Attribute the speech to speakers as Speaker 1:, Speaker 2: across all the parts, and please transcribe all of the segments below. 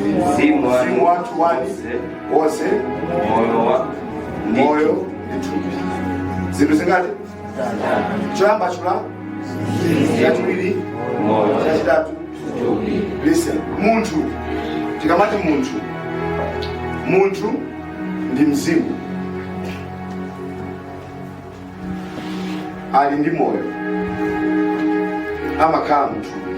Speaker 1: mzimu wanu wonse moyo ndi thupi zinthu zingati choyamba chachiwiri chachitatu listen munthu tikamati munthu munthu ndi mzimu ali ndi moyo amakhala mthupi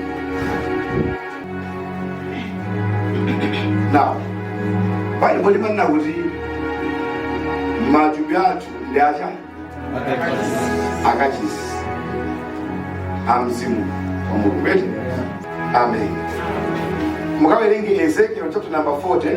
Speaker 1: now baibulo limanena kuti matupi athu ndi cha akachisi a mzimu wa mulungu eti amen mukawerenge ezekiel chapter number 40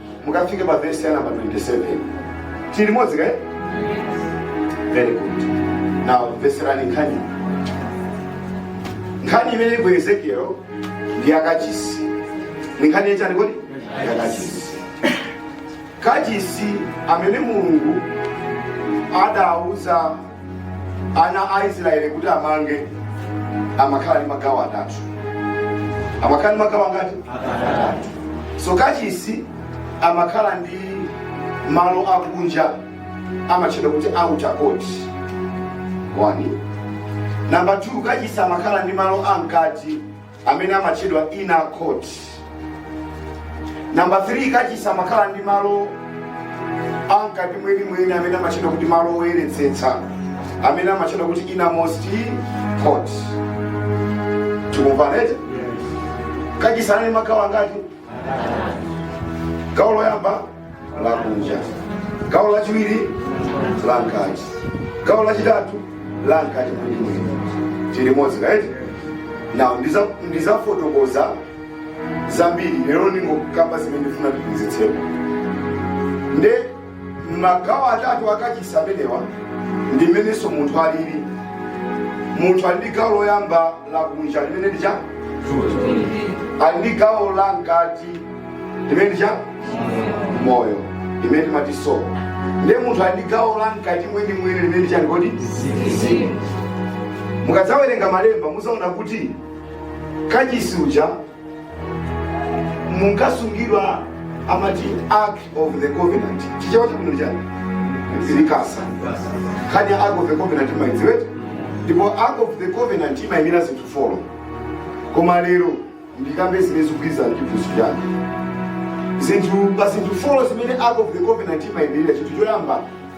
Speaker 1: mukafike pa vesi ya namba 27 tili limodzi kaeti very good now mveserani nkhani nkhani imene ili ku ezekiel ndi yakachisi ni nkhani yachani kodi yakachisi kachisi amene mulungu adauza ana a israeli kuti amange amakhala ndi magawo atatu amakhala ndi magawo angati atatu so kachisi amakhala ndi malo akunja amatchedwa kuti outer court one number two kachisi amakhala ndi malo amkati amene amatchedwa inner court namba 3 kachisi amakhala ndi malo amkati mwenimweni amene amatchedwa kuti malo oyeretsetsa amene amatchedwa kuti innermost court tikumvana eti kachisi anali ndi magawo angati gawo loyamba lakunja gawo lachiwiri lankati gawo lachitatu lankati mwenimweni tili limodzi kaeti now ndiza- ndizafotokoza zambiri lero ndingokamba zimene ndifuna ndiphunzitsepo nde magawo atatu akachisi amenewa ndi mmenenso munthu alili munthu ali ndi gawo loyamba lakunja limene ndi cha ali ndi gawo la mkati limene ndi cha moyo limene timati soul ndiye munthu ali ndi gawo la mkati mwenimweni limene ndi chani kodi mukadzawerenga malemba muzaona kuti kachisi uja munkasungidwa amati ark of the covenant chichewa chake ndi chani likasa nkhani ya ark of the covenant mumaidziwa eti ndipo ark of the covenant imayimira zinthu folo koma lero ndikambe zimene zikugwirizana ndi chiphunzitso changa zinthu pa zinthu folo zimene ark of the covenant imayimirira chinthu choyamba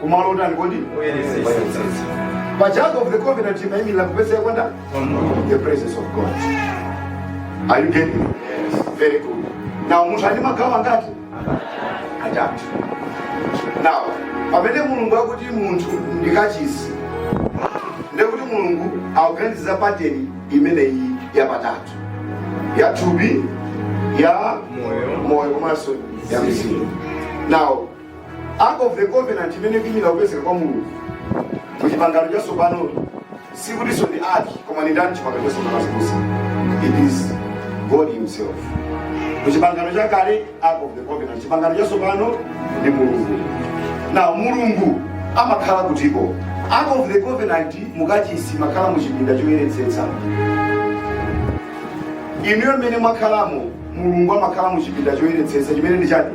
Speaker 1: kumalo otani kodi pa ark of the covenant imaimira kupezeka kwa ndani the presence of god are you getting me? very good now munthu ali magawo angati atatu now pamene mulungu akuti munthu ndi kachisi ndekuti mulungu akuganiza pateni imeneyi yapatatu ya thupi ya moyo komanso ya mzimu now Ark of the Covenant imene ikuimira kupezeka kwa Mulungu mu chipangano chatsopano sikutinso ndi ark koma ndi ndani chipangano chatsopano azibusa it is God himself mu chipangano chakale Ark of the Covenant chipangano chatsopano ndi Mulungu na Mulungu amakhala kutiko Ark of the Covenant mukachisi imakhala mu chipinda choyeretsetsa inuyo mmene mwakhalamo mulungu amakhala mu chipinda choyeretsetsa chimene ndi chani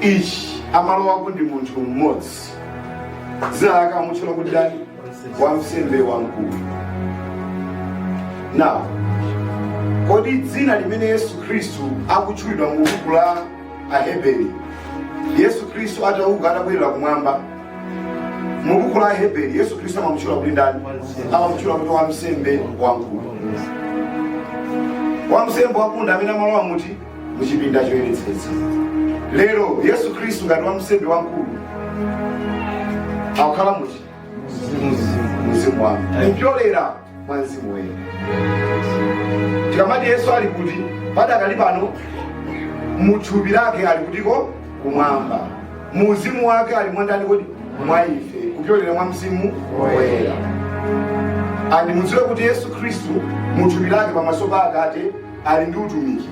Speaker 1: ichi amalowako ndi munthu mmodzi dzina lake amutchula kuti ndani wamsembe wamkulu now kodi dzina limene yesu khristu akutchulidwa mu buku la aheberi yesu khristu atauka atakwerera kumwamba mu buku la aheberi yesu khristu amamutchula kuti ndani amamutchula kuti wamsembe wamkulu wamsembe wamkulu ndi amene amalowa muti mu chipinda choyeretsetsa lero yesu khristu ngati wamsembe wamkulu akukhala muti mu mzimu wanu kupyolera mwa mzimu woyera tikamati yesu ali kuti padakali pano muthupi lake ali kutiko kumwamba mu uzimu wake ali mwandani kodi mwa ife kupyolera mwa mzimu woyera and mudziwe kuti yesu khristu muthupi lake pamaso pa atate ali ndi utumiki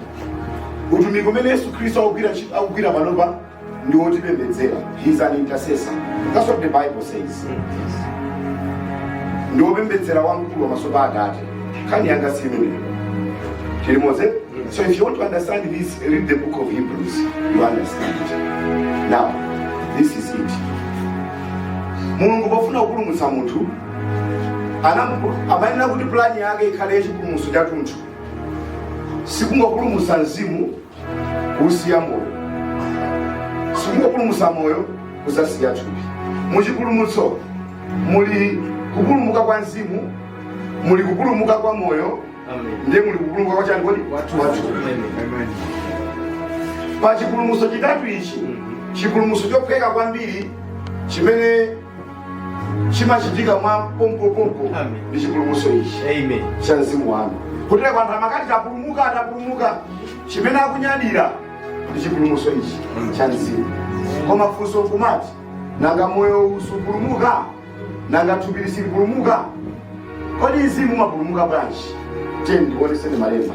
Speaker 1: utumiki umene yesu khristu akugwira ntchito- akugwira panopa ndi wotipembedzera he is an intercessor that's what the bible says ndi wopembedzera wamkulu pamaso pa atate nkhani yanga si imeneyo chilimoze so if you want to understand this read the book of hebrews you understand it now this is it mulungu pofuna kupulumutsa munthu anamu- amayenera kuti pulani yake ikhale yachipulumutso chathunthu sikungopulumutsa mzimu kusiya moyo sikungopulumutsa moyo kusiya thupi muchipulumutso muli kupulumuka kwa mzimu muli kupulumuka kwa moyo ndiye muli kupulumuka kwa chani kodi kwa thupi pa chipulumutso chitatu ichi chipulumutso chophweka kwambiri chimene chimachitika mwa pompopompo Amen. ndi chipulumutso ichi Amen. cha mzimu wanu kutere kuti anthu amakati tapulumuka tapulumuka chimene akunyadira ndi chipulumutso ichi cha mzimu koma funso nkumati nanga moyo uwu supulumuka nanga thupi silipulumuka kodi mzimu umapulumuka bwanji tiyeni ndikuoneseni malemba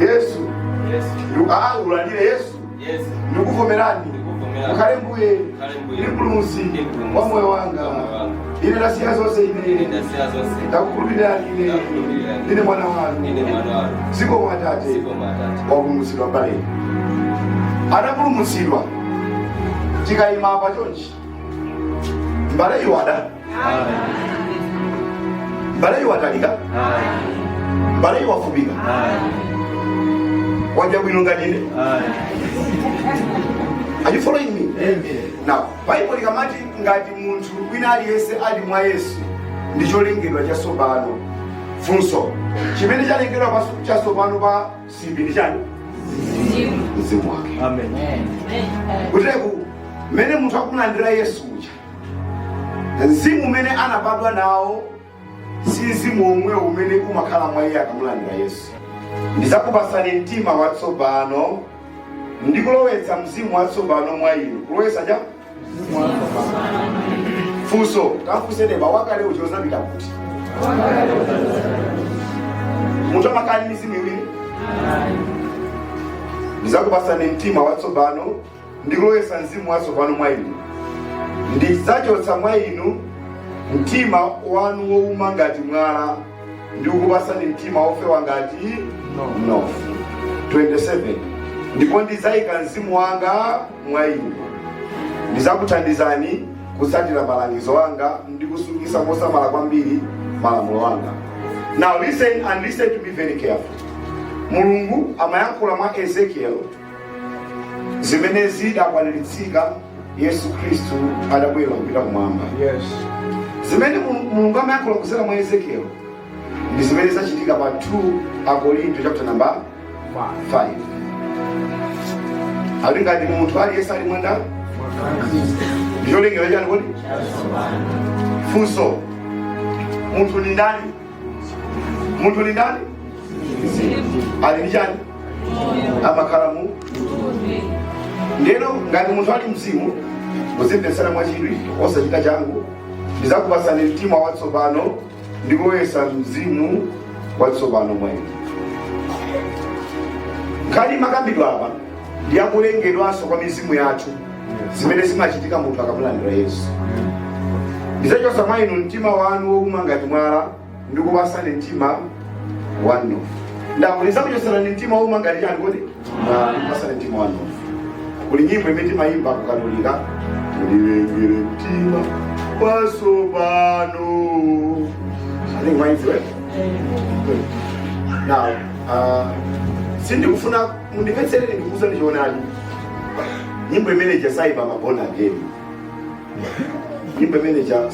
Speaker 1: yesu ulandire yesu ndikuvomerani mukhale mbuye ndi mpulumutsi wa moyo wanga ine ndasiya zonse ine ndakukhulupirirani ine ndine mwana wanu zikomo atate wapulumutsidwa mbale anapulumutsidwa tikayima pa chonchi mbale ndi wakuda mbale ndi wamtali mbale ndi wamfupi waja bwino nganine Are you following me? Now, Bible likamati ngati munthu wina aliyense ali mwa Yesu ndi cholengedwa chatsopano. Funso chimene chalengedwa pas- chatsopano pa si china ndi chani mzimu wake kutere kuti mmene munthu akumulandira yesu uja mzimu umene anabadwa nawo si mzimu womwewo umene umakhala mwa iye akamulandira yesu ndizakupasani mtima watsopano ndikulowetsa mzimu watsopano mwa inu kulowetsa cha funso tafunse neba wakale uja udzapita kuti munthu amakhala ndi mizimu iwiri ndizakupasani mtima watsopano ndi kulowetsa mzimu watsopano mwa inu ndidzachotsa mwa inu mtima wanu wouma ngati mwala ndi kukupasani mtima wofewa ngati mnofu 27 ndipo ndidzayika mzimu wanga mwa inu. Ndidzakuthandizani kutsatira malangizo anga ndi kusungitsa mosamala kwambiri malamulo anga. Now listen and listen to me very carefully. Mulungu amayankhula mwa Ezekiel zimene zidakwaniritsika Yesu Khristu atakwera kupita kumwamba. Yes. Zimene Mulungu amayankhula kudzera mwa Ezekiel ndi zimene zachitika pa 2 Akorinto chapter number 5 akuti ngati munthu aliyense ali mwa nda ndi cholengedwa chani kuti funso munthu ni ndani munthu ni ndani ali ndi chani amakhala mu ndiyeno ngati munthu ali mzimu muzindimvetsera mwachidwi osachita changu ndizakupasani mtima watsopano ndikulowetsa mzimu watsopano mwa inu nkhani imakambidwa apa ndi yakulengedwanso kwa mizimu yathu zimene zimachitika munthu akamulandira yesu ndidzachotsa mwa inu mtima wanu wouma ngati mwala ndi kupatsani mtima wa mnofu nde akuti ndidzakuchotsani mtima wouma ngati chani kodi kuli nyimbo imene timayimba kukatolika ndilengereni mtima watsopano ane mwayidziwe now uh, sindikufuna mundimvetserere ndikuuzani choonadi nyimbo imene ija sayimba ma born again nyimbo imene ija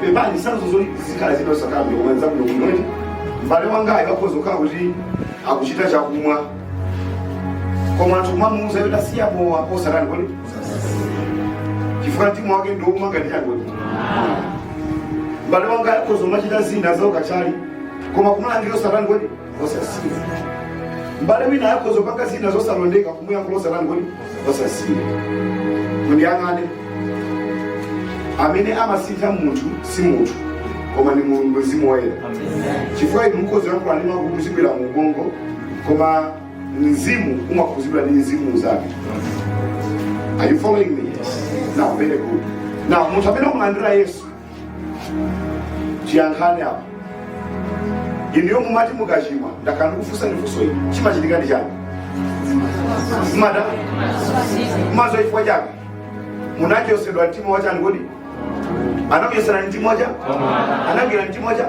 Speaker 1: pepani sanzo zoti zikhala zina usakambe koma nzakuno kunoni mbale wangayo akhoza kukhala kuti akuchita chakumwa koma anthu kumamuuza zoti asiye mowa osatani kodi chifukwa mtima wake ndi wouma ngati chani kodi mbale wangayo akhoza kumachita zina zaukathyali koma kumulangiza osatani kodi osasiya mbale winayo akhoza kupanga zina zosalondeka kumuyankhula osatani kodi osasiya mundiyang'ane amene amasintha munthu si munthu koma ni mulungu mzimu woyera chifukwa inu mukhoza yankhula nde amakhudzidwira mu ubongo koma mzimu umakhudzidwa ndi mzimu unzake are you following me now very good now munthu amene wamulandira yesu ndiyankheni apa inuyo mumati mukachimwa ndakhala ndikufunsani funso ili chimachitika ndi chani mumada kumaso chifukwa chani munachosedwa mtima wachani kodi anakuchoserani mtima wacha anagwira mtima wacha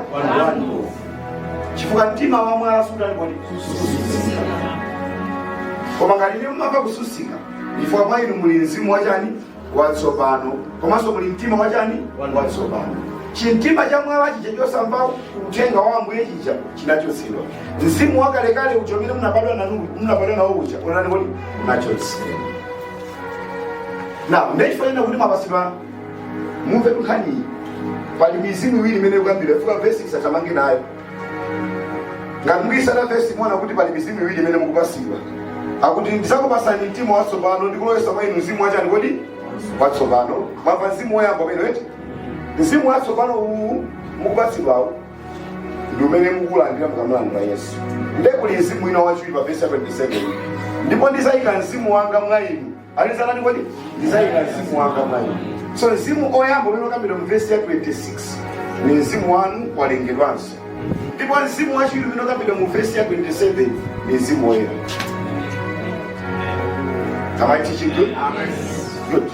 Speaker 1: chifukwa mtima wa mwala sutani kodi koma ngati inu mumamva kususika chifukwa mwa inu muli mzimu wachani watsopano komanso muli mtima wachani watsopano chimtima cha mwala chija chosamva uthenga wa ambuye chija chinachotsedwa mzimu wakalekale uja umene munabadwa nanu munabadwa nawo uja unatani kodi unachotsedwa now nde chifukwa nanena kuti mapasima mumve nkhaniyi pali mizimu iwiri imene ikukambidwa ifika vesi tithamange nayo ngati mukuyitsata vesi muona kuti pali mizimu iwiri imene mukupasidwa akuti ndizakupasani mtima watsopano ndikulowesa mwa inu mzimu wachani kodi watsopano mwamva mzimu woyamba umenewo eti mzimu watsopano uwu mukupasidwawo ndi umene mukulandira mukamulandira yesu nde kuli mzimu wina wachiwiri pa vesi ya 27 ndipo ndizayika mzimu wanga mwa inu ali zatani kodi ndizayika mzimu wanga mwa inu so mzimu oyamba umene ukambidwa mu vesi ya 26 ni mzimu wanu walengedwanso ndipo mzimu wachiwiri umene ukambidwa mu vesi ya 27 ni mzimu woyera Am I teaching good? Good.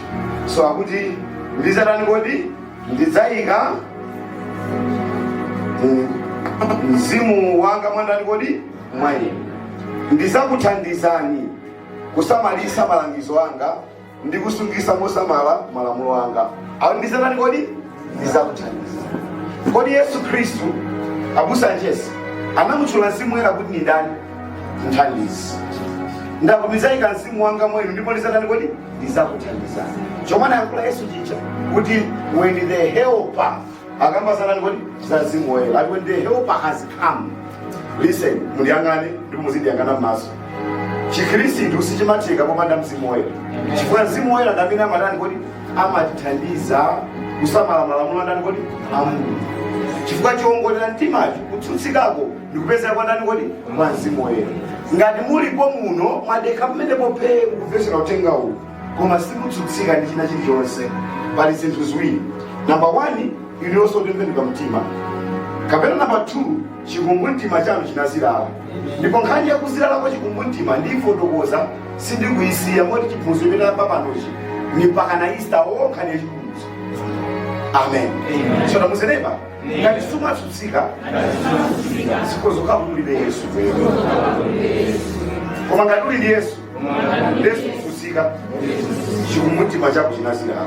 Speaker 1: So akuti ndizatani kodi ndidzayika mu- mzimu wanga mwa ndani kodi mwa inu ndizakuthandizani kusamalitsa malangizo anga ndi kusungisa mosamala malamulo anga akuti ndizanani kodi ndizakuthandiza kodi yesu khristu abusa Jesse anamutchula mzimu woyera kuti ni ndani mthandizi ndakumizaika mzimu wanga mwa inu ndipo ndizatani kodi ndizakuthandizani chomwe anayankhula yesu chija kuti when the helper akamba zanani kodi za mzimu woyera ati when the helper has come listen mundiyang'ane ndipo muzindiyang'ana mmaso chikhristu sichimatheka popanda mzimu woyera chifukwa mzimu woyera ndi amene amatani kodi amatithandiza kusamala malamulo andani kodi a mulungu chifukwa choongolera mtimacho kutsutsikako ndikupezeka kwa ndani kodi kwa mzimu woyera ngati mulipo muno mwadekha pamene phee kumvetsera uthenga uwu koma simutsutsika ndi china chilichonse pali zinthu ziwiri namba 1 inuyo simunatembenuke mtima kapena namba 2 chikumbumtima chanu chinazilala ndipo nkhani yakuzilala kwa chikumbumtima ndiyifotokoza sindikuyisiya moti chiphunzitso chimene tayamba panochi ni pakana ista okha ndiye chipunzitso amen so tamuuzeni neba ngati sumatsutsika zikhozeka ulibe yesu koma ngati uli ndi yesu nde sukutsutsika chikumbumtima chako chinazilala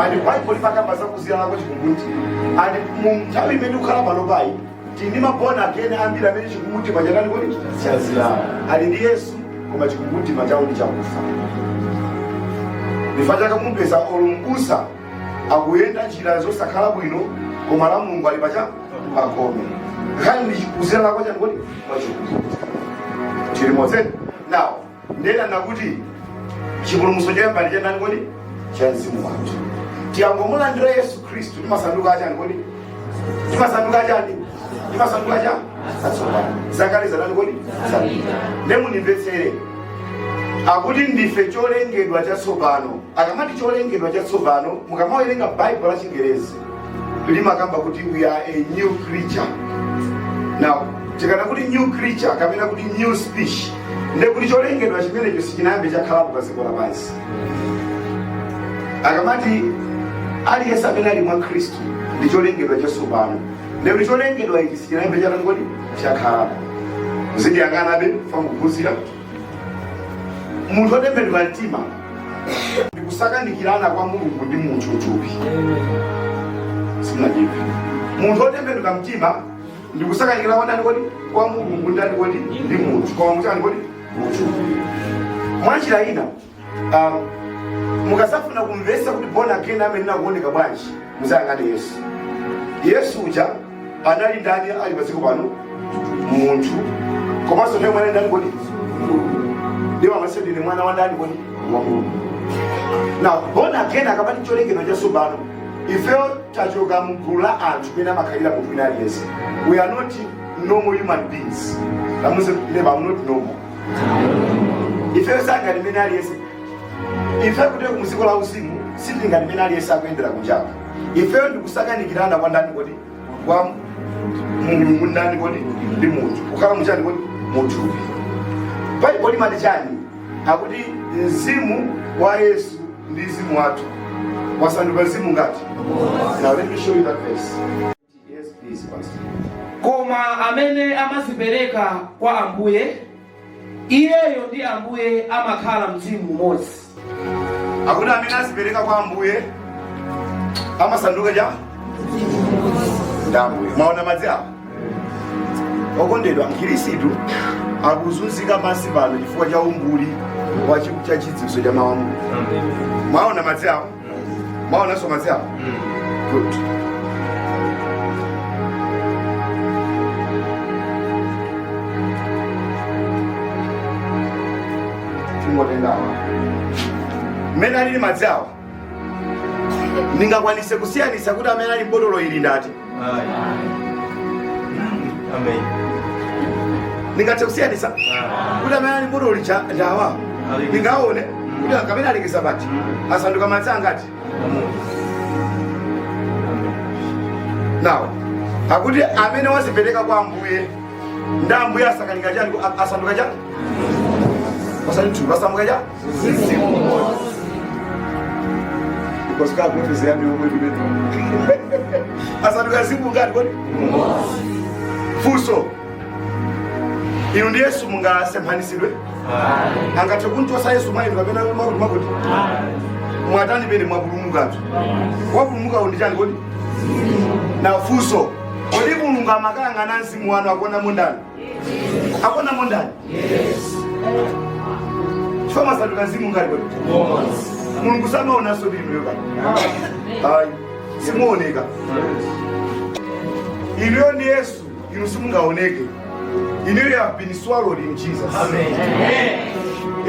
Speaker 1: andi baibulo limakamba za kuzilala kwa chikumbumtima andi mu nthawi imene tikukhala pano pali tili ndi ma born again ambiri amene chikumbumtima chatani kodi chazilala ali ndi yesu koma chikumbumtima chawo ndi chakufa chifukwa chake mumpeza olo mbusa akuyenda njira zosakhala bwino koma a mulungu ali pacha pagome nkhani ndi kuzilala kwa chani kodi kwa chikumbumtima tili limodzi now ndinanena kuti chipulumutso choyamba ndi chandani kodi cha mzimu wathu tikangomulandira yesu khristu timasanduka achani kodi timasanduka chani timasanduka cha atsopano zakale zanani kodi zapita nde mundimvetsere akuti ndife cholengedwa chatsopano akamati cholengedwa chatsopano mukamawerenga baibulo la chingerezi limakamba kuti we are a new creature now tikanena kuti new creature kapena kuti new species ndiye kuti cholengedwa chimenecho sichinayambe chakhalapo pa dziko lapansi akamati aliyense amene ali mwa khristu ndi cholengedwa chatsopano ndiye kuti cholengedwa ichi sichinayambe chatani kodi chakhalapo zindiyang'anabe fa mukuphunzira munthu otembenuka mtima ndikusakanikirana kwa mulungu ndi munthu utupi simunajipi munthu otembenuka mtima ndikusakanikirana kwa ndani kodi kwa mulungu ndani kodi ndi munthu kukhala muchani kodi munthu mwanjira ina Ah, mukasafuna kumvesa kuti born again amene amaoneka bwanji muzayang'ane yesu yesu uja anali ndani ali padziko pano munthu komanso naye mwana ndani kodi ndiwo amati ndine mwana wa ndani kodi wa mulungu na born again akamati cholengedwa chatsopano ifeyo tachoka mgulu la anthu mmene amakhalira munthu wina aliyense we are not normal human beings tamuze neba am not normal ifeyo singati mmene aliyense ife kuteroko mu dziko la uzimu sitili ngati mmene aliyense akuyendera kunjako ifeyo ndikusakanikirana kwa ndani kodi kwa mulungu ndani kodi ndi munthu kukhala muchani kodi munthu baibulo limati chani akuti mzimu wa yesu ndi mzimu wathu wasanduka mzimu ngati now let me show you that verse Koma amene amazipereka kwa Ambuye, iyeyo ndi Ambuye amakhala mzimu umodzi. Akuti amene azipereka kwa Ambuye amasanduka chani ndi Ambuye. Mwaona madzi awa okondedwa, Mkhirisitu akuzunzika pansi pano chifukwa cha umbuli wa chi- cha chidziwitso cha mawu a Mulungu. Mwaona madzi awa mwaonanso madzi awo good tingotendawa mmene alili madzi awa ndingakwanise kusiyanisa kuti amene ali mbotolo ili ndati ndingathe kusiyanisa kuti amene ali mbotolo lija awa ndingaone kuti amenewa alekeza pati asanduka madzi angati nawo akuti amene wazipereka kwa ambuye ndi ambuye asanduka chani asanduka chani pasani thupi asanduka chani funso inu ndi yesu mungasemphanitsidwe angathe kumuchotsa yesu mwa inu kapena makuti makuti mwatani pamene mwapulumukatu wapulumuka ndi chani kodi nde funso kodi mulungu akamayang'ana mzimu wanu akuona mundani akonamo ndani chifukwa masanduka mzimu ngati kodi mulungu samaonanso ndi inuyo kani ayi simuwoneka inuyo ndi yesu inu simungaoneke inuyo you have been swallowed in jesus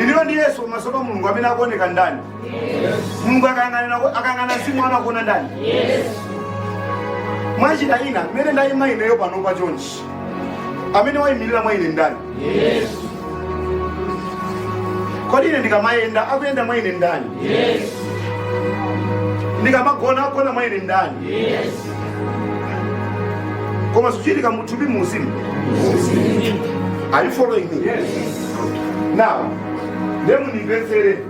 Speaker 1: inuyo ndi yesu pamaso pa mulungu amene akuoneka ndani mulungu akang'anira- akayang'ana mzimu wanu akuona ndani mwachitsanzo mmene ndayima ineyo panopa chonchi amene wayimirira mwa ine ndani yesu kodi ine ndikamayenda akuyenda mwa ine ndani yesu ndikamagona agona mwa ine ndani yesu koma zikuchitika muthupi mumzimu are you following me yes. now nde mundimvetsere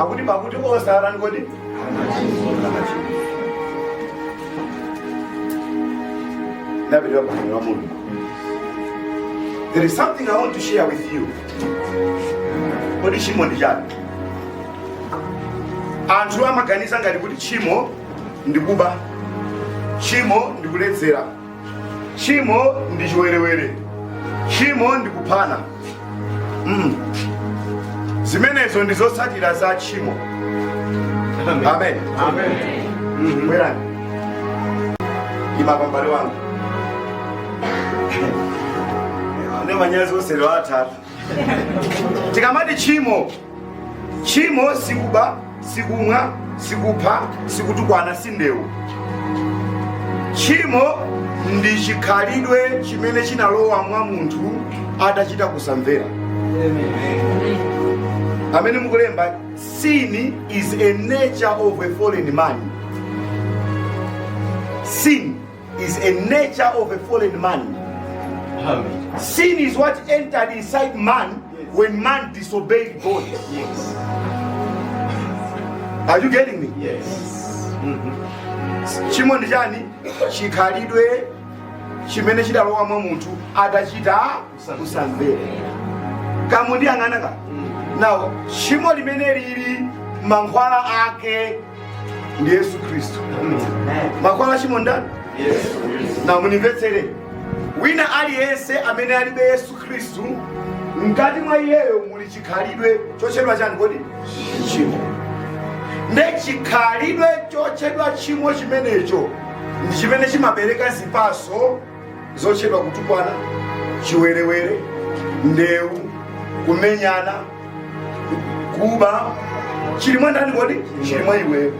Speaker 1: akuti pakuti onse atani kodi ndapitira ku ana a mulungu there is something i want to share with you kodi tchimo ndi chani anthu amaganiza ngati kuti tchimo ndi kuba tchimo ndi kuledzera tchimo ndi chiwerewere tchimo ndi kuphana mm. zimenezo ndi zotsatira za tchimo amen, amen. amen. Mm -hmm. bwerani imapambale wanga ndi manyazi osero atatu tikamati tchimo tchimo si kuba si kumwa si kupha si kutukwana si ndewu tchimo ndi chikhalidwe chimene chinalowa mwa munthu atachita kusamvera amene mukulemba sin is a nature of a fallen man sin is a nature of a fallen man. Amen. Sin is what entered inside man when man disobeyed God. Yes. Are you getting me? Yes. tchimo ndi chani chikhalidwe chimene chidalowa mwa munthu atachita kusamvera kamundiyang'ana kaya nawo tchimo limene lili mankhwala ake kuli yesu khristu mankhwala a tchimo ndani nde mundimvetsere wina aliyense amene alibe yesu khristu mkati mwa iyeyo muli chikhalidwe chotchedwa chani kodi tchimo nde chikhalidwe chotchedwa tchimo chimenecho ndi chimene chimabereka zipatso zochepa kutukwana chiwerewere ndewu kumenyana kuba chili mwa ndani kodi chili mwa iweyo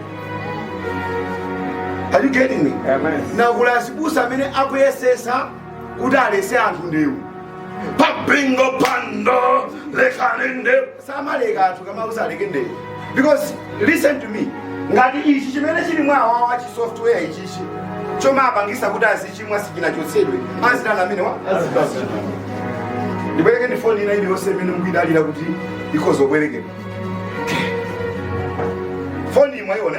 Speaker 1: Are you getting me? ndiye kuli azibusa amene akuyesetsa kuti aletse anthu ndewu pa mpingo anthu lekani nde samaleka anthu kumawauza aleke ndewu because listen to me ngati ichi chimene chili mwa awawa chi software ichichi chomawapangisa kuti azichimwachi sichinachotsedwe azitani amenewa ndibwerekeni foni ina iliyonse imene mukuyidalira kuti ikhoza kubwerekedwa foni imwa ione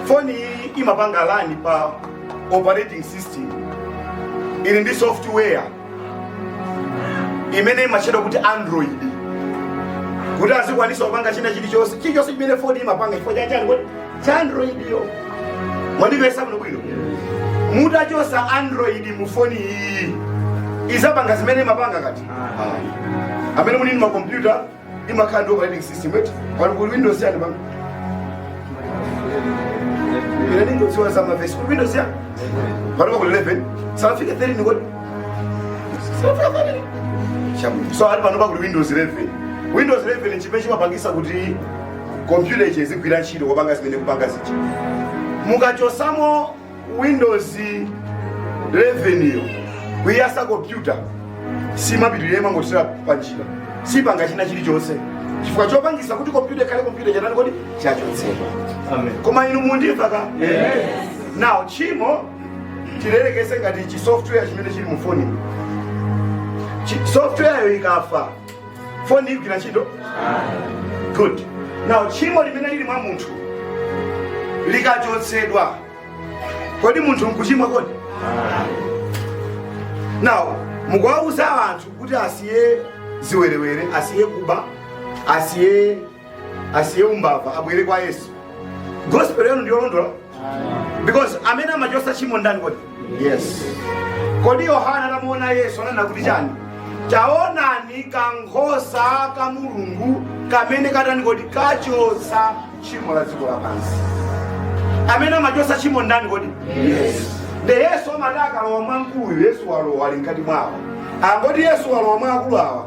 Speaker 1: foni iyi imapanga run pa operating system ili ndi software imene imatchedwa kuti android kuti azikwanisa kupanga china chilichonse chilichonse chimene foni imapanga chifukwa cha chani kodi cha android yo mwandimvetsa bwino bwino mutachosa android mu foni iyi izapanga zimene imapanga kodi amene muli ndi makompyuta imakhala ndi operating system eti pano kuli windows chani pano ine ndingodziwa za mavesi kuli windows chani pano kuli 11 sanafike 13 kodi sanafike 13 chabwino so ali pano pa kuli windows 11 windows 11 nchimene chimapangisa kuti kompyuta izigwira ntchito kupanga zimene ikupangazi mukachosamo windows 11 yo kuiyatsa kompyuta simapitirira imangothera panjira sipanga china chilichonse chifukwa chopangisa kuti kompyuta ikhale kompyuta chatani kodi chachotsedwa koma inu mukundimva ka now tchimo tiyerekeze ngati chi software chimene chili mu foni software yo ikafa foni igwira ntchito good now tchimo limene lili mwa munthu likachotsedwa kodi munthu nkuchimwa kodi now mukuwauza anthu kuti asiye ziwerewere asiye kuba asiye asiye umbava abwere kwa yesu gospel yanu ndiyolondola because amene amachotsa tchimo ndani kodi yesu kodi yohana atamuona yesu ananena kuti chani taonani kankhosa ka mulungu kamene katani kodi kachotsa tchimo la dziko lapansi amene amachotsa tchimo ndani kodi yesu nde yesu amati akalowa mwa mkulu yesu walowa ali mkati mwa awa akuti yesu walowa mwa akulu awa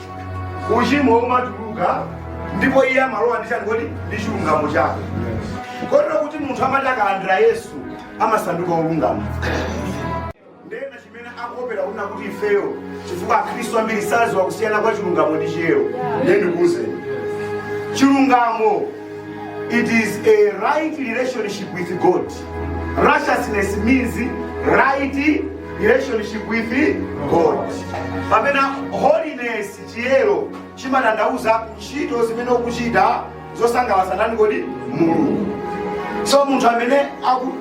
Speaker 1: uchimo umatuluka ndipo iye amalowa ndi chani kodi ndi chilungamo chake kotero kuti munthu amati akalandira yesu amasanduka olungama nde nachi chimene akuwopera kunena kuti ifeyo chifukwa akhristu ambiri sadziwa kusiyana kwa chilungamo ndi chiyero nde ndikuuzeni chilungamo It is a right relationship with God. Righteousness means right relationship with God. Pamene holiness chiyero chimatanthauza ntchito zimene ukuchita zosangalatsa ndani kodi Mulungu. So munthu amene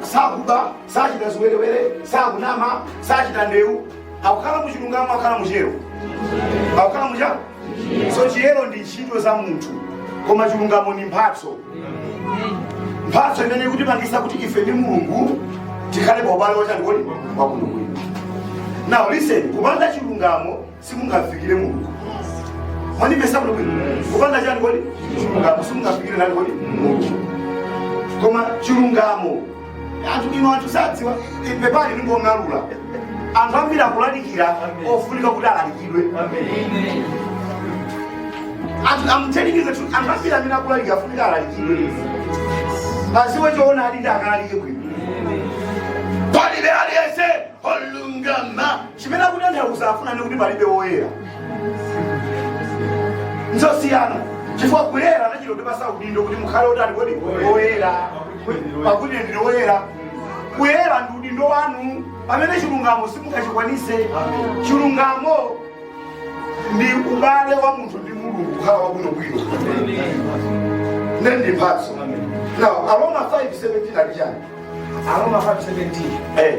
Speaker 1: sakuba, sachita ziwerewere, sakunama, sachita ndewu, akukhala mu chilungamo akhala mu chiyero akukhala mu chani so chiyero ndi ntchito za munthu koma chilungamo ndi mphatso mphatso imene ikutipangisa kuti ife ndi mulungu tikhale pa ubale wachani kodi wabwinobwino now listen kupanda chilungamo simungafikire mulungu mwanimvetsa kuno bwino kupanda chani kodi chilungamo simungafikire ndani kodi mulungu koma chilungamo anthu inu anthu sadziwa pepani ndikung'alula anthu ambiri akulalikira ofunika kuti alalikidwe anthu amutembenuze tu anthu ambiri amene akulalikira afunika alalikidwe adziwe choona and akalalike bwino palibe aliyense olungama chimene akunena afuna ndi kuti palibe woyera nzosiyana chifukwa kuyera anachita kutipasa udindo kuti mukhale otani kodi oyera pakuti ine ndine oyera kuyera ndi udindo wanu pamene chilungamo simungachikwanise chilungamo ndi ubale wa munthu ndi mulungu kukhala wabwinobwino ndi mphatso now aroma 517 ali chani aroma 517 eh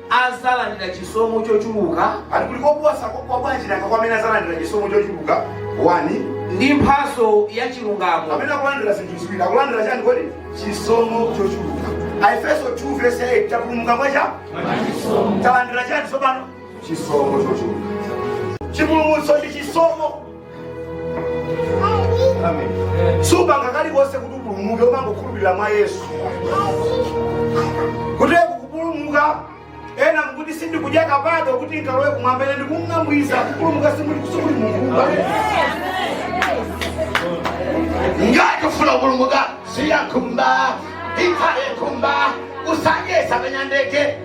Speaker 1: adzalandira chisomo chochuluka. Ati kuli koposa kwabwanji nanga kwa amene adzalandira chisomo chochuluka 1 ndi mphatso ya chilungamo. Amene akulandira zinthu ziwiri akulandira chani kodi? Chisomo chochuluka. Aefeso 2 verse 8 tapulumuka mwa chani talandira chani tsopano? Chisomo chochuluka. Chipulumutso ndi chisomo. sumapanga kalikonse kuti upulumuke umangokhulupirira mwa yesu kuteroko kupulumuka ena kuti sindikudya kapado kuti nkalowe kumwamba ine ndikungokuuza kupulumuka simuli simuli mumbuba ngati ufuna kupulumuka siya nkhumba ikhale nkhumba usanyesa penya ndege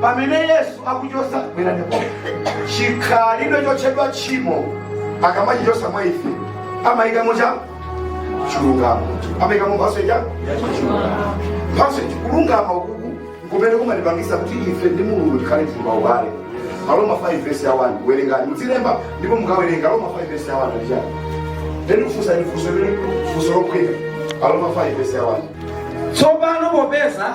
Speaker 1: pamene yesu akuchosa bweranepo chikhalidwe chotchedwa tchimo akamachichosa mwa ife amayikamo cha chilungamo amayikamo mphatso ija mphatso ija kulungama uku kumene kumatipangisa kuti ife ndi mulungu tikhale tili pa ubale aroma 5 vesi ya 1 werengani mudzilemba ndipo mukawerenga aroma 5 vesi ya 1 ali chani eeh kufunsa ni funso limene funso lophweka aroma 5 vesi ya 1 tsopano popeza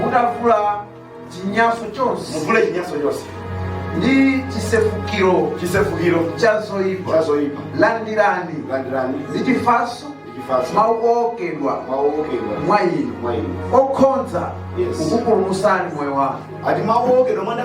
Speaker 1: mutavula chinyanso chonse muvule chinyanso chonse ndi chisefukiro chisefukiro cha zoyipa cha zoyipa landirani landirani ndi chifatso ndi chifatso mawu owokedwa mawu owokedwa mwa inu mwa inu okhoza Yes. kukupulumutsani moyo wanu ati mawu owokedwa mwa inu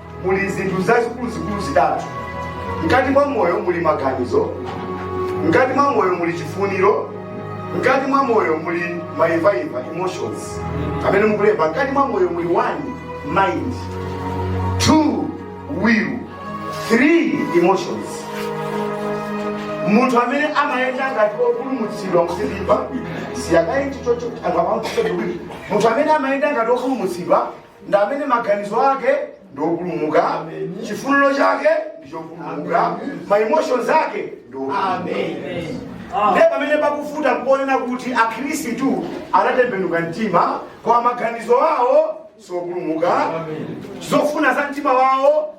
Speaker 1: muli zinthu zazikuluzikulu zitatu mkati mwa moyo muli maganizo mkati mwa moyo muli chifuniro mkati mwa moyo muli maimvaimva emotions amene mukulemba mkati mwa moyo muli one mind two will three emotions munthu amene amayenda ngati opulumutsidwa kusilimba siyakayenji chocho angapamkuseduwiri munthu amene amayenda ngati opulumutsidwa ndi amene maganizo ake ndi opulumuka chifuniro chake ndi chopulumuka ma emotions ake ndi opulumuka ndiye pamene pakuvuta kuonena kuti akhristu anatembenuka mtima koma maganizo awo sopulumuka zofuna za mtima wawo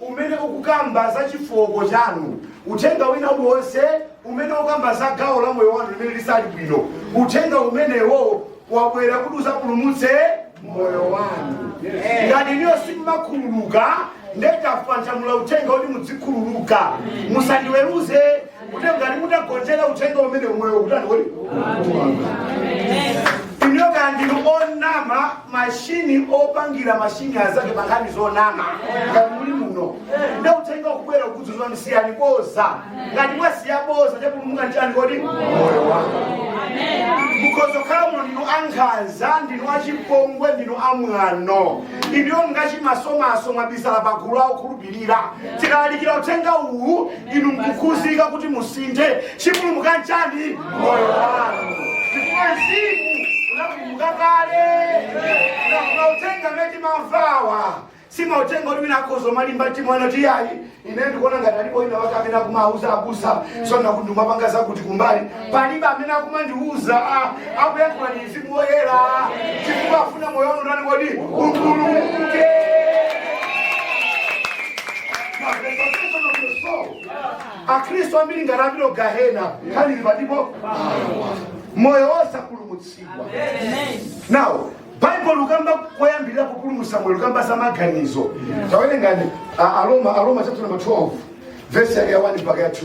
Speaker 1: umene ukukamba za chifooko chanu, uthenga wina uliwonse umene ukamba za gawo la moyo wanu limene silili bwino, uthenga umenewo wabwera kuti uzapulumutse moyo wanu. Ngati inuyo simumakhululuka, nde tanyamula uthenga kuti mudzikhululuka, musandiweruze kuti ngati mutagonjera uthenga umenewu moyo ukutani kodi inu kaya ndinu onama mashini opangira mashini azake pankhani zonama ngati muli muno nde uthenga ukubwera ukudzudzula siyani bodza ngati mwasiya bodza chapulumuka nchani kodi moyo wako mukhoza kukhala muno ndinu ankhanza ndinu achipongwe ndinu amwano inuyo ngwachimasomaso mwabisala pagulu la okhulupirira tikalalikira uthenga uwu inu nkukhudzika kuti musinthe chapulumuka nchani moyo wanu chifukwa mzimu unapulumuka kale mauthenga amene timamvawa si mauthenga kuti mwina akhoza omalimba mtima ena ati iyayi ine ndikuona ngati alipo ina wake amene akumawauza abusa so kuti ndikumapanga zakuti kumbali palibe amene akumandiuza ah, akuyankhula ndi mzimu woyera chifukwa afuna moyo wanu utani kodi upulumuke akhristu ambiri ngati apite gahena nkhani ili pati pa moyo wosapulumutsidwa ndiye baibulo likukamba koyambirira kupulumutsa moyo likukamba za maganizo tawerengani a- aroma aroma chapter number 12 vesi yake ya 1 mpaka ya 2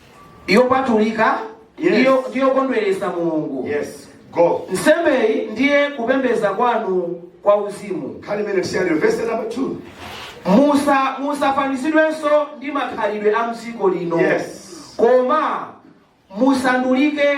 Speaker 1: ndi yopatulika ndi Yes. yo- ndi yokondweretsa mulungu Yes. Go. nsembeyi ndiye kupembedza kwanu kwa uzimu Kali minute share your verse number two. musa musafanizidwenso ndi makhalidwe a mdziko lino Yes. koma musandulike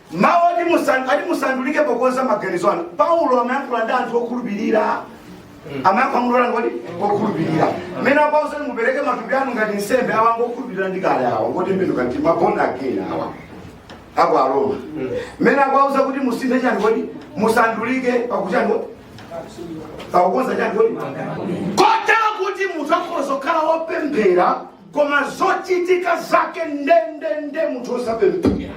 Speaker 1: mawu oti musan- ati musandulike pokonza maganizo anu paulo amayankhula ndi anthu okhulupirira amayankhula kwa || okhulupirira mmene apausa kuti mupereke matupi anu ngati nsembe awa ngokhulupirira ndi kale awa ngotembenuka mtima born again awa ako aroma mmene apausa kuti musinthe chani kodi musandulike pakuchani kodi pakukonza chani kodi kotero kuti mudzakhoza kukhala wopemphera koma zochitika zake ndendende munthu osapemphera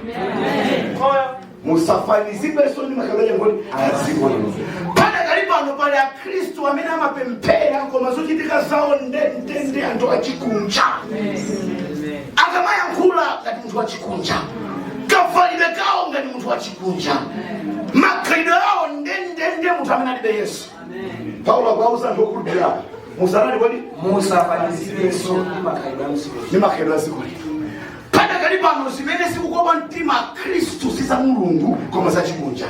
Speaker 1: musafanizidwenso ndi makhalidwe akuti adziko lino padakali pano pali akhristu amene amapemphera koma zochitika zawo ndendende anthu achikunja akamayankhula ngati munthu wachikunja kavalidwe kawo ngati munthu wachikunja makhalidwe awo ndendende munthu amene alibe yesu paulo akuwauza anthu okhulupirira musanati kodi musafanizidwenso ndi makhalidwe a mdziko ndi makhalidwe a dziko lino padakali pano zimene zikukopa mtima khristu si za mulungu koma za chikunja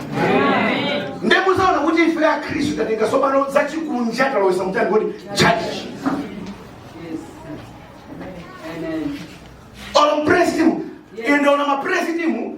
Speaker 1: nde mudzaona kuti ife a khristu tatenga tsopano za chikunja talowesa mu chani kodi tchalitchi olo mpresitimu ine ndaona mapresitimu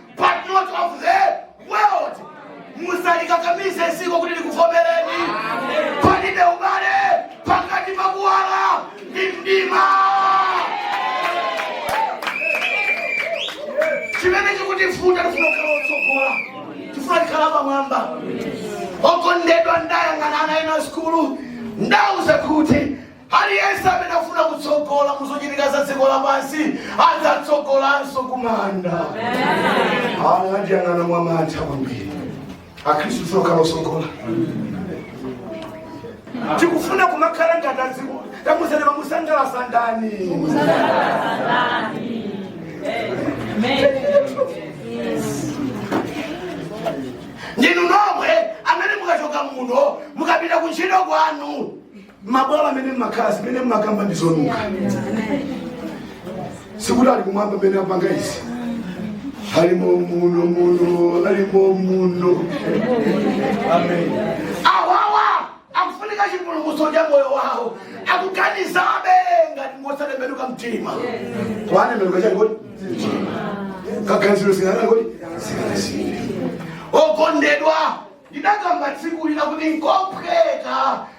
Speaker 1: but not of the world musalikakamize dziko kuti likuvomereni palibe ubale pakati pa kuwala ndi mdima chimene chikutivuta tifuna kukhala otsogola tifuna tikhala pamwamba okondedwa ndayang'ana ana ena sukulu ndauza kuti Aliyense amene akufuna kutsogola mu zochitika za dziko lapansi adzatsogolanso ku manda. Ana andiyang'ana mwa mantha kwambiri. Akhristu okhala otsogola. Tikufuna kumakhala ngati adziko. Tamuuzani mumusangalatsa ndani. Ndinu nomwe amene mukachoka muno mukapita ku ntchito kwanu. mabwalo amene mmakhala zimene mmakamba ndi zonunkha sikuti ali kumwamba amene akupanga izi alimo muno muno alimo muno amen awawa akufunika chipulumutso cha moyo wawo akuganizabe ngati ngosatembenuka mtima kwanembenuka chani kodi kaganizidwe singanani kodi singanasii okondedwa ndidakamba tsiku lina kuti nkophweka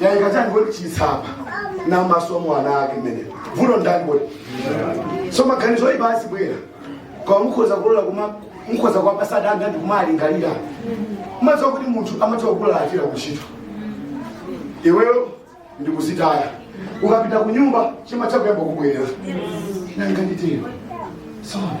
Speaker 1: yaika chani kodi chisa pa masomo ana ake mmene vuto ndani kodi so maganizo oyipa azibwera koma mukhoza kulola kuma mukhoza kuwapasa danga ndi kumalingalira mumadziwa kuti munthu amatha kukula achira kuntchito iweyo ndikudzitaya ukapita ku nyumba chima chako yamba kubwerera nanga nditero sona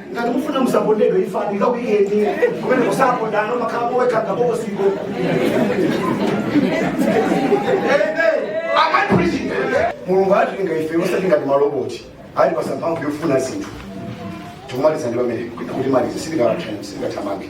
Speaker 1: ngati mufuna musapondedwe ifani ikakuyeni kumene kusapondana umakhala muwekha ngabokosiko amapuliziti mulungu anatilenga ife osati ngati maloboti anatipatsa mphamvu yofuna zinthu tikumaliza ndi pamene kuti malize sitikathamange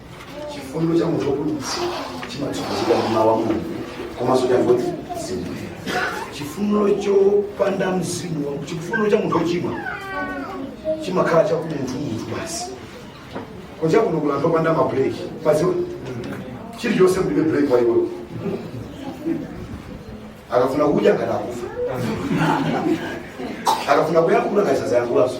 Speaker 1: chifundo cha munthu wopulumutsa chimatsogozedwa ndi mawu a mulungu komanso chifundo cha mzimu chifundo chopanda mzimu wa- chifundo cha munthu wochimwa chimakhala cha munthu munthu basi kunja kuno kuli anthu opanda mabuleki mumadziwa chilichonse mlibe buleki wa iwewo akafuna kudya ngati akufa akafuna kuyankhula ngati sazayankhulaso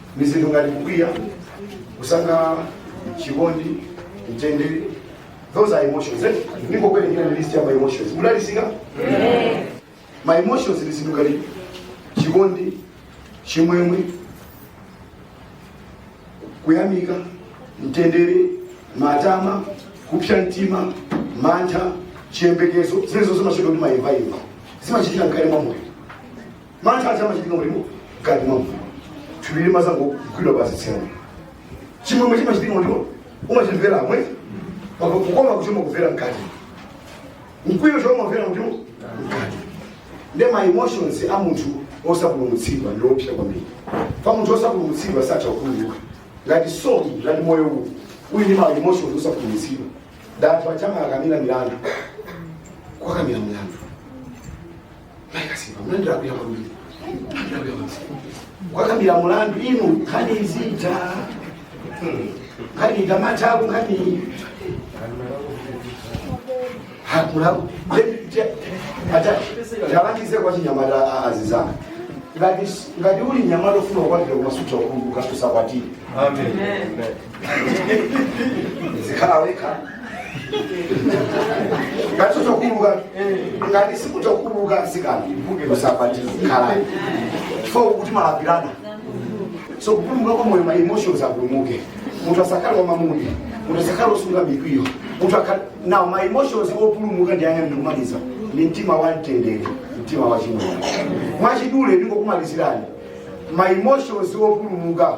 Speaker 1: ni zinthu ngati kukwiya kusangalala chikondi mtendere those are emotions eh? ndingokuwerengerani list ya ma emotions mudalitsike ma emotions ni zinthu ngati chikondi chimwemwe kuyamika mtendere matama kupsa mtima mantha chiyembekezo zimenezo zimachitidwa ndi maimvaimva zimachitika mkati mwa moyo mantha aja amachitika kuti mu- mkati mwa munthu thupi limadzangogwidwa pa dzitsina chimwemwe chimachitika kuti umachimvera mwe mpaka kukoma kuti umakuvera mkati mkwiyo cho umamvera kuti mu- mkati ndi ma emotions a munthu osapulumutsidwa ndi oopsa kwambiri pa munthu osapulumutsidwa satha kukhululuka ngati soul ngati moyo uwu uli ndi ma emotions osapulumutsidwa ndi anthu aja makambira milandu kwakambira milandu Akasimba, mlandu akuya kwambiri. Mlandu akuya kwambiri. Wakambira mlandu inu nkhani sizitha. Nkhani ikatha mayambanso nkhani. Hakulaku. Ata ndilangize kwa achinyamata atsikana. Ngati ngati uli nyamata ofuna kukwatira kumasuta kumbuka usakwatire. Amen. uzikhala wekha ngati utha kukhululuka ngati sutha kukhululuka mtsikana usapati khalani so kuti malapirana so kupulumuka kwa moyo ma emotions apulumuke munthu asakhale wa mamood munthu asakhale osunga mikwiyo munthu akhale now ma emotions opulumuka ndi otani ndikumaliza ni mtima wa mtendere mtima wa chimwemwe mwachidule ndingokumalizirani ma emotions opulumuka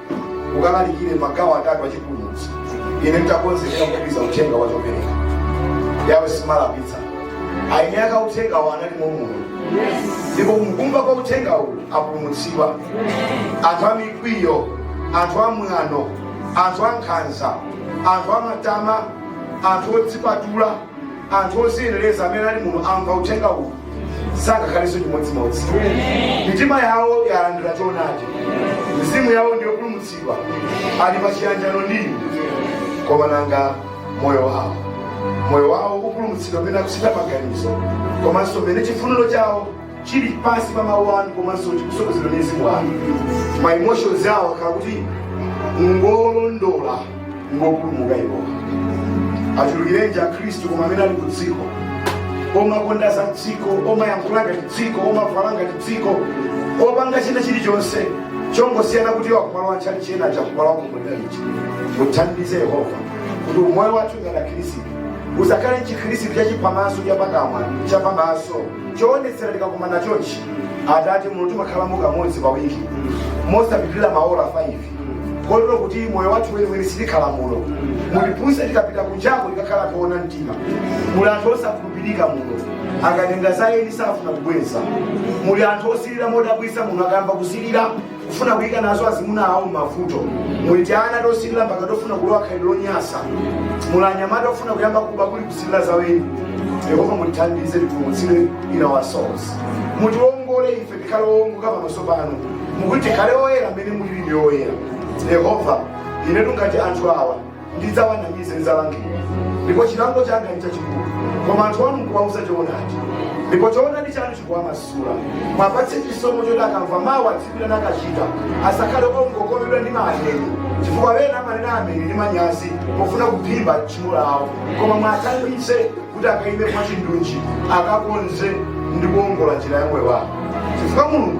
Speaker 1: ukalalikire magawo atatu achipulumutso ine nditakonzeka kutumiza uthenga wa chopereka yake simalapitsa ayi eni ake a uthengawo anali momuno ndipo kumkuba kwa uthengawo apulumutsidwa anthu a mikwiyo anthu a mwano anthu a nkhanza anthu a matama anthu odzipatula anthu oziyenereza amene ali muno amva uthenga uwu sangakhalenso chimodzimodzi mitima yawo yalandira choonadi mizimu yawo ndi yopulumutsidwa ali pa chiyanjano ndi inu koma nanga moyo wawo moyo wawo upulumutsidwa mmene akuchita maganizo komanso mmene chifuniro chawo chili pansi pa mawu anu komanso chikutsogozedwa ndi mzimu wanu ma emotions awo akhala kuti ngolondola ngopulumuka Yehova achulukirenji akhristu koma amene ali ku dziko omakonda za dziko omayankhula ngati dziko omavala ngati dziko opanga china chilichonse chongosiyana kuti wa kumwamba chili cha cha kumwamba chili chiti mutithandize yehova kuti umoyo wathu ngati akhristu usakhale chikhristu chachiphamaso chapakamwa chapamaso choonetsera tikakumana chonchi atate muno timakhala muno kamodzi pa wiki mosapitirira maola 5 kotero kuti moyo wathu weniweni sitikhala muno mutiphunzitse tikapita kunjako tikakhala toona mtima muli anthu osakhulupirika muno akatenga za eni safuna kubweza muli anthu osilira modabwitsa muno akayamba kusilira kufuna kuyika nazo azimuna awo m'mavuto muli tiana tosilira mpaka tofuna kulowa khalidwe lonyasa muli anyamata ofuna kuyamba kuba kamba kosilira za eni yehova mutithandize tipulumutsidwe in our souls mutiwongole ife tikhale owongoka pamaso panu mukuti tikhale oyera mmene mulili ndi oyera yehova inetu ngati anthu awa ndidzawanamiza ndidzalangidwa ndipo chilango changa ndi chachikulu koma anthu anu ndikuwauza choonadi ndipo choonadi chanu chikuwamasula muwapatse chisomo choti akamva mawu adziyima nakachita asakhale ongokomedwa ndi ma ameni chifukwa wena amanena ameni ndi manyazi pofuna kuphimba tchimo lawo koma muwathandize kuti akaime mwachindunji akakonze ndi kuongola njira ya moyo wawo chifukwa mulungu